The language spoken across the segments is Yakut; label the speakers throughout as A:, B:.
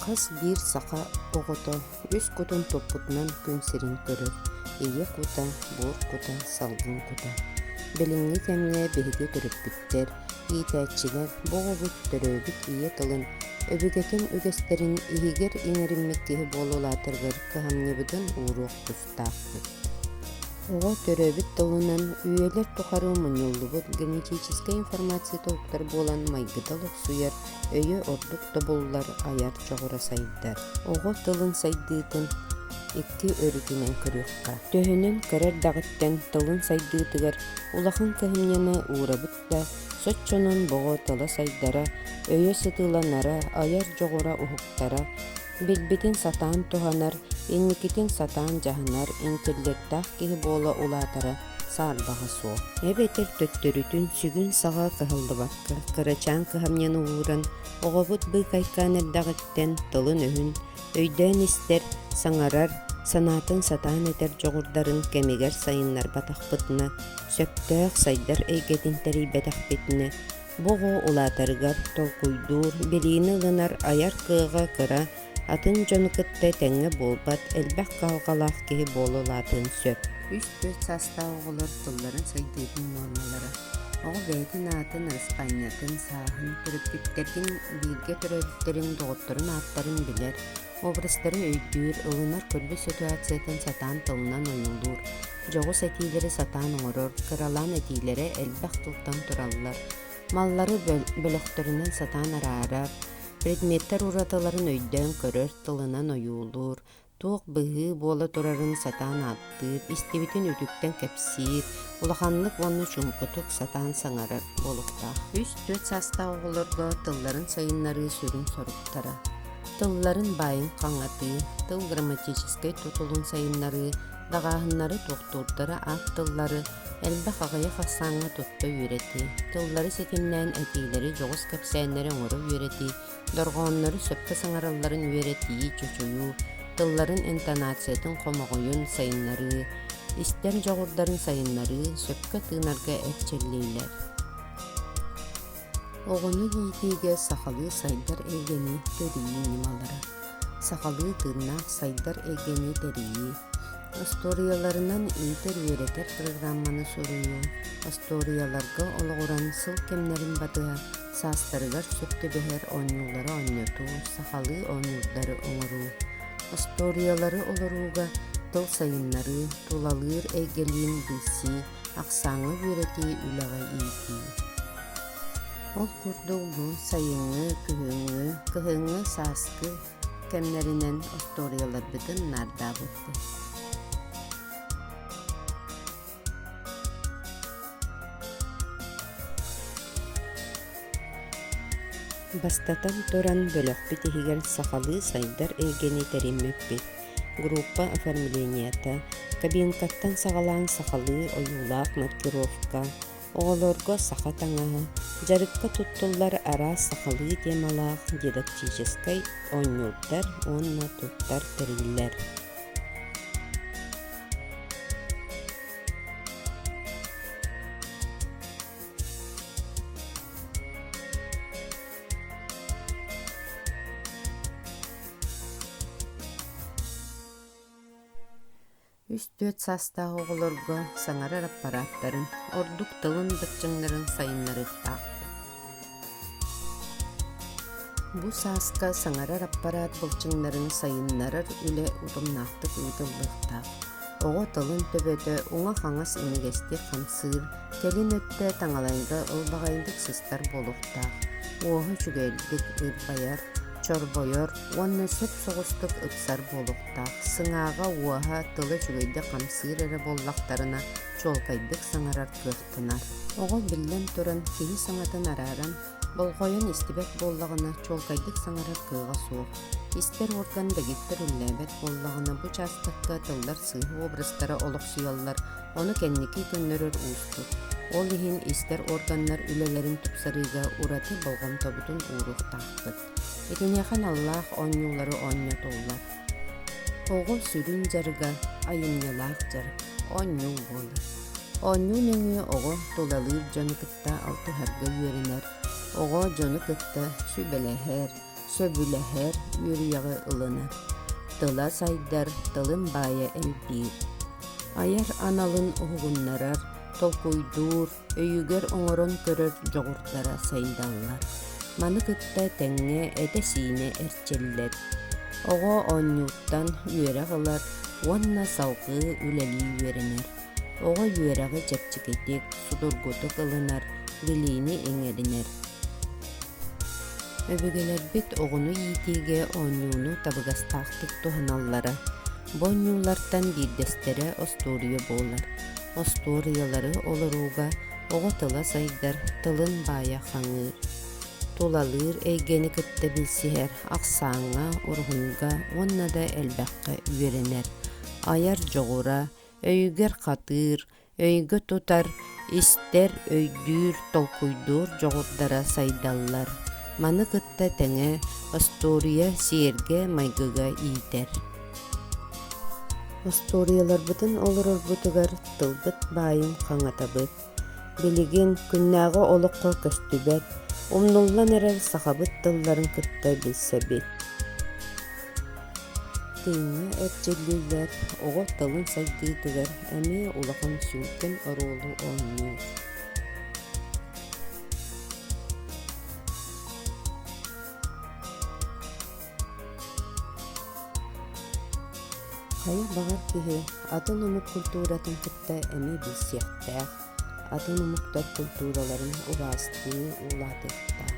A: Хас биир саха оҕото үс кутун туппутунан күн сирин көрөр, ийэ кута, буор кута, салгын кута. Билиҥҥи кэмҥэ биһиги төрөппүттэр иитээччилэр, иитээччилэр бу оҕобут төрөөбүт ийэ тылын, өбүгэтин үгэстэрин иһигэр иҥэриммит киһи буола улаатарыгар кыһамньыбытын ууруох тустаахпыт. Оҕо төрөөбүт тылынан үйэлэр тухары мунньуллубут генетическэй информация тулуктар буолан майгыта олохсуйар өйө ордук тобуллар айар дьоҕура сайдар. Оҕо тылын сайдыытын икки өрүтүнэн көрүөххэ. Төһөнөн көрөр-даҕыттан тылын сайдыытыгар улахан кыһамньыны уурабыт да, соччонон боҕо тыла сайдара, өйө сытыыланара, айар дьоҕура уһуктара, билбитин сатаан туһанар, инникитин сатаан дьаһанар интеллектаах киһи буола улаатара саарбаҕа суох, эбэтэр төттөрүтүн сүгүн саҕа кыһаллыбакка, кырачаан кыһамньыны ууран, оҕобут быыкайкаан эрдэҕиттэн тылын-өһүн өйдөөн истэр, саҥарар, санаатын сатаан этэр дьоҕурдарын кэмигэр сайыннарбатахпытына, сөптөөх сайдар эйгэтин тэрийбэтэхпитинэ, бу оҕо улаатарыгар толкуйдуур, билиини ылынар айар кыаҕа кыра атын дьону кытта тэҥҥэ буолбат, элбэх кыһалҕалаах киһи буола улаатыан сөп. Үс-түөрт саастаах оҕолор тылларын сайдыытын нуормалара оҕо бэйэтин аатын, ысхаанньатын, сааһын, төрөппүттэрин, бииргэ төрөөбүттэрин, доҕотторун ааттарын билэр, образтарын өйдүүр, ылынар көрбүт ситуациятын сатаан тылынан ойуулуур, дьоҕус этиилэри сатаан оҥорор, кыралаан этиилэрэ элбэх тылтан тураллар, маллары бөлөхтөрүнэн сатаан араарар, Предметтэр уратыларын өйдөөн көрөр тылынан ойуулуур, туох быһыы буола турарын сатаан ааттыыр, истибитин үтүктэн кэпсиир, улаханнык уонна чуумпутук сатаан саҥарар буолуохтаах. Үс-түөрт саастаах оҕолорго тылларын сайыннарыы сүрүн соруктара. Тылларын баайын хаҥатыы, тыл грамматическай тутулун сайыннарыы, даҕааһыннары, тохтуурдары, аат тыллары, Элбэх аҕыйах ахсааҥҥа тутта үөрэтии, тыллары ситимнээн этиилэри, дьоҕус кэпсээннэри оҥоро үөрэтии, дорҕооннору сөпкө саҥаралларын үөрэтии, чочуйуу, тылларын интонациятын хомоҕойун сайыннарыы, истэр дьоҕурдарын сайыннарыы сөпкө тыынарга эрчиллиилэр. Оҕону иитиигэ сахалыы сайдар эйгэни тэрийии ньымалара. Сахалыы тыыннаах сайдар эйгэни тэрийии. Остуоруйаларынан иитэр-үөрэтэр программаны суруйуу. Остуоруйаларга олоҕуран сыл кэмнэрин батыһа саастарыгар сөп түбэһэр оонньуулары оонньотуу, сахалыы оонньуулары оҥоруу. Остуоруйалары олорууга тыл сайыннарыы, тулалыыр эйгэлиин билсии, ахсааҥҥа үөрэтии үлэҕэ иитии. Ол курдук бу сайыҥҥы, күһүҥҥү, кыһыҥҥы сааскы кэмнэринэн остуоруйаларбытын наардаабыппыт. Бастатан туран, бөлөхпүт иһигэр сахалыы сайдар эйгэни тэриммиппит, группа оформлениета, кабинкаттан саҕалаан сахалыы ойуулаах маркировка, оҕолорго саха таҥаһа, дьарыкка туттуллар араас сахалыы темалаах дидактическай оонньуурдар уонна туттар тэриллэр. Үс-түөрт саастаах оҕолорго саҥарар аппарааттарын, ордук тылын дыпчыҥнарын сайыннарыахтаах. Бу сааска саҥарар аппараат былчыҥнарын сайыннарар үлэ утумнаахтык ыытыллыахтаах. Оҕо тылын төбөтө уҥа-хаҥас имигэстик хамсыыр, кэлин өттө таҥалайга ылбаҕайдык сыстар буолуохтаах. Уоһа үчүгэйдик ырбайар, чорбойор уонна сөп соҕустук ыпсар буолуохтаах, сыҥааҕа, уоһа, тыла үчүгэйдик хамсыыр эрэ буоллахтарына чуолкайдык саҥарар кыахтанар. Оҕо биллэн туран киһи саҥатын арааран, болҕойон истибэт буоллаҕына чуолкайдык саҥарар кыаҕа суох. Истэр уорган дэгиттэр үллээбэт буоллаҕына бу учаастакка тыллар сыыһа образтара олохсуйаллар, Ону кэнники көннөрөр уустук. Ол иһин истэр органнар үлэлэрин тупсарыыга ураты болҕомтобутун ууруохтаахпыт. Итиниэхэ наллаах оонньуулары оонньотоллор. Оҕо сүрүн дьарыга айымньылаах дьарык, оонньуу буолар. Оонньуу нөҥүө оҕо тулалыыр дьону кытта алтыһарга үөрэнэр, оҕо дьону кытта сүбэлэһэр, Сөбүлэһэр үөрүйэҕи ылына, тыла сайдар, тылын баайа элбиир. Айар аналын уһугуннарар, толкуйдуур, өйүгэр оҥорон көрөр дьоҕурдара сайдаллар. Маны кытта тэҥҥэ этэ-сиинэ эрчиллэр. Оҕо оонньууттан үөрэх ылар уонна салгыы үлэлии үөрэнэр. Оҕо үөрэҕи чэпчэкитик, судургутук ылынар, билиини иҥэринэр. Өбүгэлэрбит оҕону иитиигэ оонньууну табыгастаахтык туһаналлара. Бу оонньуулартан биирдэстэрэ остуоруйа буолар. Остуоруйалары олорууга оҕо тыла сайдар, тылын баайа хаҥыыр. Тулалыыр эйгэни кытта билсиһэр, ахсааҥҥа, уруһуйга уонна да элбэххэ үөрэнэр. Айар дьоҕура, өйүгэр хатыыр, өйгө тутар, истэр, өйдүүр, толкуйдуур дьоҕурдара сайдаллар. Маны кытта тэҥэ остуоруйа сиэргэ, майгыга иитэр. Остуоруйаларбытын олорорбутугар тылбыт баайын хаҥатабыт, Билигин күннээҕи олоххо көстүбэт, умнуллан эрэр сахабыт тылларын кытта билсэбит. Тэҥҥэ эрчиллиилэр оҕо тылын сайдыытыгар эмиэ улахан сүҥкэн оруолу оонньуур. Хайа баҕар киһи атын омук культуратын кытта эмиэ билсиэхтээх, атын омуктар култуураларын убаастыы улаатыахтаах.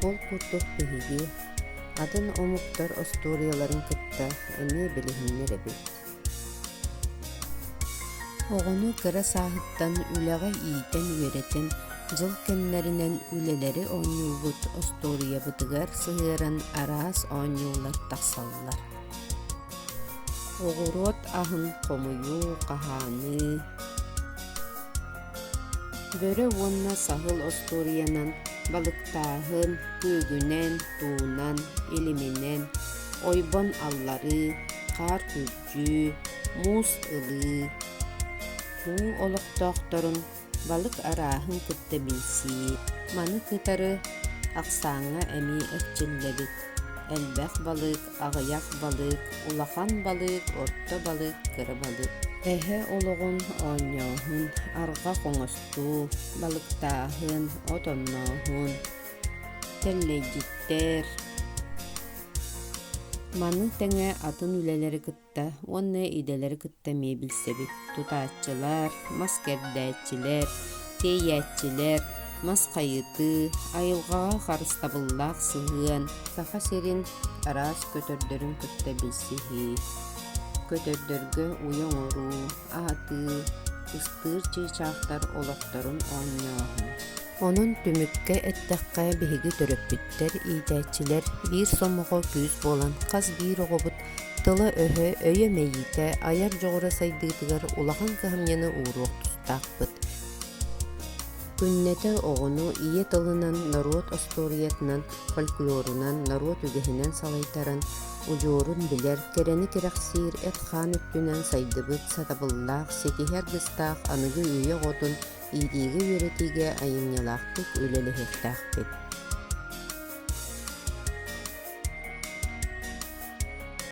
A: Ол курдук биһиги атын омуктар остуоруйаларын кытта эмиэ билиһиннэр эбит. Оҕону кыра сааһыттан үлэҕэ иитэн-үөрэтэн, дьыл кэмнэринэн үлэлэри оонньуубут остуоруйабытыгар сыһыаран араас оонньуулар тахсаллар. Оҕуруот аһын хомуйуу, хаһааныы, бөрө уонна саһыл остуоруйанан балыктааһын, күөгүнэн, туунан, илиминэн, ойбон алларыы, хаар күрдьүү, муус ылыы, күҥҥү олохтоохторун балык арааһын кытта билсии, маны кытары ахсааҥҥа эмиэ эрчиллэбит. Элбэх балык, аҕыйах балык, улахан балык, орто балык, кыра балык. Эһэ олоҕун оонньооһун, арҕах оҥостуу, балыктааһын, от оннооһун, Тэллэйдиттэр Маны тэҥэ атын үлэлэри кытта уонна идэлэри кытта эмиэ билсэбит. Тутааччылар, мас кэрдээччилэр, тиэйээччилэр, мас хайытыы, айылҕаҕа харыстабыллаах сыһыан, Саха сирин араас көтөрдөрүн кытта билсиһии. Көтөрдөргө уйа оҥоруу, аһатыы, ыстыыр чыычаахтар олохторун оонньооһун. Онон түмүккэ эттэххэ, биһиги төрөппүттэр, иитээччилэр биир сомоҕо күүс буолан хас биир оҕобут тыла-өһө, өйө мэйиитэ, айар дьоҕура сайдыытыгар улахан кыһамньыны ууруох тустаахпыт. Күннэтэ оҕону ийэ тылынан, норуот остуоруйатынан, фольклорунан, норуот үгэһинэн салайтаран, удьуорун билэр, кэрэни кэрэхсиир, эт-хаан өттүнэн сайдыбыт сатабыллаах, ситиһи аргыстаах аныгы үйэ оҕотун иитиигэ-үөрэтиигэ айымньылаахтык үлэлэһиэхтээхпит